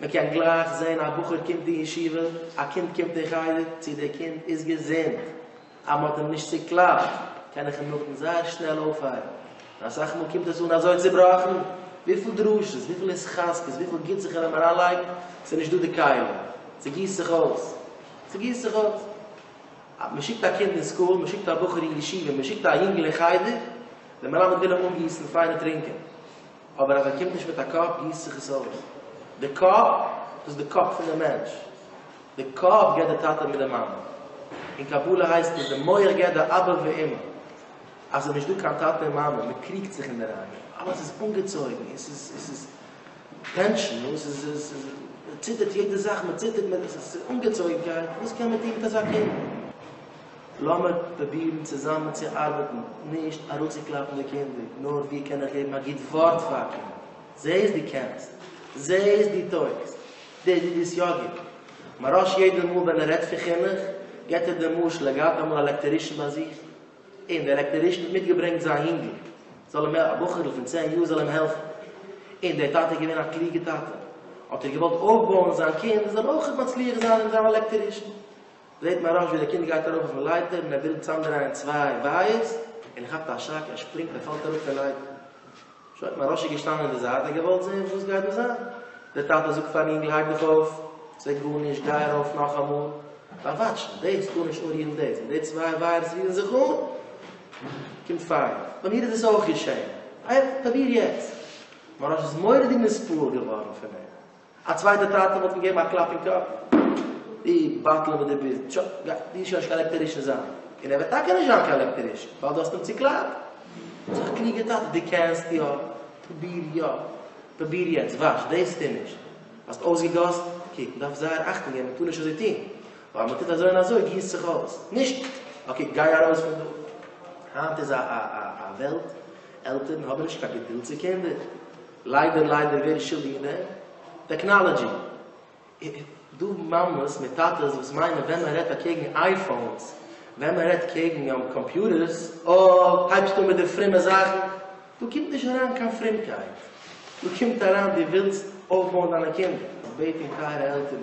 מען קען גלייך זען א בחור קומט אין ישיבה, א קינד קומט אין חדר, צו דער קינד איז געזונט, אז מען האט אים נישט צוקלאפט, קען איך אים נאכדעם זייער שנעל אויפהייבן, און אסאך מאל קומט עס אן אזוי צובראכן, וויפיל דרשות, וויפיל התחזקות, וויפיל גוטס איך קען אים אריינלייגן, ס'איז נישט דא די כלים, ס'גיסט זיך אויס, ס'גיסט זיך אויס. מען שיקט א קינד אין סקול, מען שיקט א בחור אין ישיבה, מען שיקט א יונגל אין חדר, דער מלמד וויל אים אנגיסן פיינע טרינקען. אבער אז ער קומט נישט מיט א קאפ גיסט זיך עס אויס. די קאפ, דאס איז די קאפ פון די מענטש. די קאפ גיבט די טאטע מיט די מאמע. אין קבלה הייסט עס די מח גיבט די אבא ואמא. אז עס איז נישט דא קיין טאטע און מאמע, מען קריגט זיך אינדערהיים, אלעס איז אנגעצויגן, עס איז, עס איז טענשן, נו, עס איז, עס איז, מען ציטערט יעדע זאך, מען ציטערט, מען, עס איז אנגעצויגנקייט, וואס קען מען טון מיט אזא קינד? לאמיר פרובירן צוזאמען צו ארבעטן, נישט אראפצוקלאפן די קינדער, נאר ווי קען איך געבן א גוט ווארט פאר אים, זע איז דו קענסט, זע איז דו טויגסט, דער איד איז יא גוט. מרש יעדע מאל ווען ער רעדט פון חינוך, געבט ער דעם משל, ער געהאט אמאל א לעקטערישן ביי זיך, און דער לעקטערישן האט מיטגעברענגט זיין יונגל, זאל אים, א בחור'ל פון צען יאר, זאל אים העלפן, און דער טאטע איז געווען א קלוגע טאטע, האט ער געוואלט אויפבויען זיין קינד זאל אויך מצליח זיין אין זיין לעקטערישן. זעט מהראש ווי דער קינד גייט ארויף אויפן לייטער און ער וויל צאמדרייען צוויי ווייערס און ער כאפט א שאק ער שפרינגט ער פאלט אראפ פון לייטער. שוין האט מהראשי געשטאנען אין די זייט און געוואלט זען וואס גייט דא זיין. דער טאטע זאגט פארן אינגל הייב דיך אויף ס'וועט גארנישט גיי ארויף נאכאמאל באוואטשן דאס טאר נישט אנרירן דאס און די צוויי ווייערס רירן זיך אן קומט פייער. ביי מיר איז דאס אויך געשען. פראביר יעצט. מהראש איז מורא'דיג נספעל געווארן פון אים. א צווייטע טאטע וואלט אים געגעבן א קלאפ אין קאפ, דו בטלן וואס דו ביסט, טשא, גיי דו שוין נישט קיין עלעקטערישן זיין, און ער וועט טאקע נישט זיין קיין עלעקטערישן, ווייל דו האסט אים צוקלאפט. זאג א קלוגע טאטע, דו קענסט יא, פרוביר יא, פרוביר יעצט, וואש דאס טו נישט, האסט אויסגעגאסן, קוק מען דארף זייער אכטונג געבן מען טאר נישט אזוי טון, ווייל מען טוט אזוי און אזוי גיסט זיך אויס, נישט, אקעי גיי ארויס פון דא, היינט איז א וועלט, עלטערן האבן נישט קיין געדולד צו קינדער. ליידער ליידער ווער איז שולדיג אין דעם? טעקנאלעדזשי! דא מאמעס מיט טאטעס וואס מיינען ווען מען רעדט אקעגן אייפאונס, ווען מען רעדט קעגן קאמפיוטערס, אה, הייבסט אן מיט די פרומע זאכן, דא קומט נישט אריין קיין פרומקייט, דא קומט אריין דו ווילסט אויפבויען דיינע קינדער, איך בעט דיר טייערע עלטערן,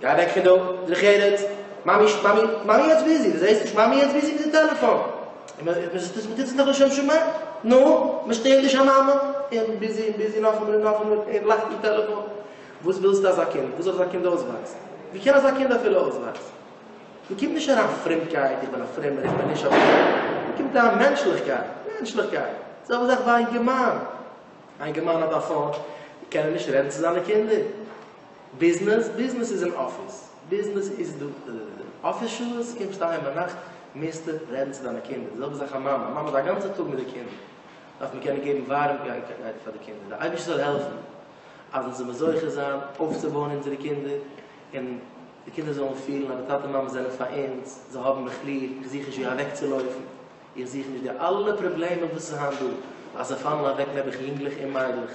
גיי אוועק פון דא, דרך ארץ, מאמי, מאמי, מאמי יעצט ביזי, דו זעסט נישט מאמי יעצט ביזי מיט די טעלעפאן? און מען, מען זאגט עס, מען טוט עס נאך לשם שמים, נו, מען שטערט נישט א מאמע, און ביזי און ביזי, נאכאמאל און נאכאמאל, און לאכט אין טעלעפאן, וואס ווילסטו אזא קינד, וואו זאל אזא קינד אויסוואקסן, וואו קען אזא קינד אפילו אויסוואקסן, דא קומט נישט אריין פרומקייט, איך בין א פרומער, איך בין נישט א פרומער, דא קומט אריין מענטשליכקייט, מענטשליכקייט, די זעלבע זאך ביי אינגערמאן, א אינגערמאן האט א פאון, קען ער נישט רעדן צו זיינע קינדער? ביזנעס, ביזנעס איז אין אפיס, ביזנעס איז דא דאדאדאדא, אפיס שעות, קומסט אהיים ביינאכט, מוזטו רעדן צו דיינע קינדער, די זעלבע זאך א מאמע, א מאמע איז א גאנצע טאג מיט די קינדער, דארף מען קענען געבן ווארעמקייט פאר די קינדער, די אייבערשטער זאל העלפן אז אונז זאלן זוכה זיין אויפצובויען אונזערע קינדער, און די קינדער זאלן פילן אז די טאטע מאמע זענען פאר אונז, זיי האבן מיך ליב, איך זוך נישט ווי אוועקצולויפן, איך זוך נישט די אלע פראבלעמען וואס איז היינט דא, אז זיי פאלן אוועק נעבעך יונגלעך און מיידלעך,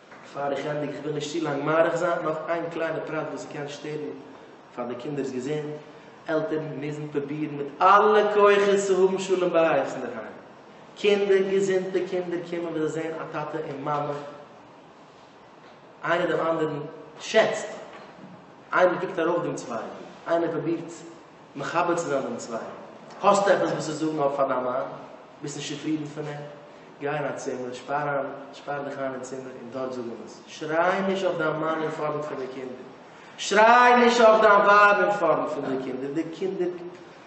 פאר איך ענדיג, כ'וויל נישט צו לאנג מאריך זיין, נאך איין קליינע פרט וואס קען שטערן פאר די קינדער'ס געזונט, עלטערן מוזן פרובירן מיט אלע כוחות צו האבן שלום בית אינדערהיים, קינדער, געזונטע קינדער קומען ווען זיי זעען א טאטע און מאמע איינער דעם אנדערן שעצט, איינער קוקט ארויף דעם צווייטן, איינער פרובירט מחבר צו זיין דעם צווייטן, האסט עפעס וואס צו זאגן אויף פאר דיין מאן? ביסט נישט צופרידן פון אים? גיי אין א צימער, שפאר איין, שפאר דיך איין אין צימער און דארט זאג אים עס. שריי נישט אויף דיין מאן אין פארנט פון די קינדער. שריי נישט אויף דיין ווייב אין פארנט פון די קינדער. די קינדער,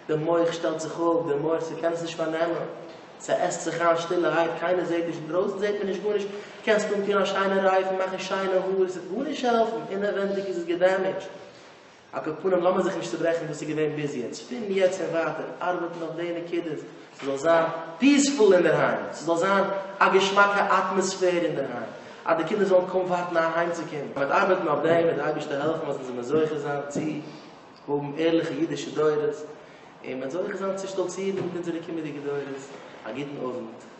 די מח שטעלט זיך אפ, די מח, ס'קען עס נישט פארנעמען. ס'עסט זיך איין שטילערהייט, קיינער זעט נישט, אינדרויסן זעט מען נישט גארנישט, קענסט אנטון א שיינע רייף און מאכן שיינע האר, עס וועט גארנישט העלפן, אינעווענדיג איז עס געדעמעדזשט. על כל פנים לאמיר זיך נישט צוברעכן וואס איז געווען ביז יעצט, פון יעצט און ווייטער ארבעטן אויף די נקודות, ס'זאל זיין פיעספול אינדערהיים, ס'זאל זיין א געשמאקע אטמאספער אינדערהיים, אז די קינדער זאלן קוים ווארטן אהיימצוקומען. מען וועט ארבעטן אויף דעם וועט די אייבערשטער העלפן אז אונז זאלן זוכה זיין צו האבן ערליכע אידישע דורות, און מען וועט זוכה זיין צו שטאלצירן מיט אונזערע קומענדיגע דורות, א גוטן אוונט.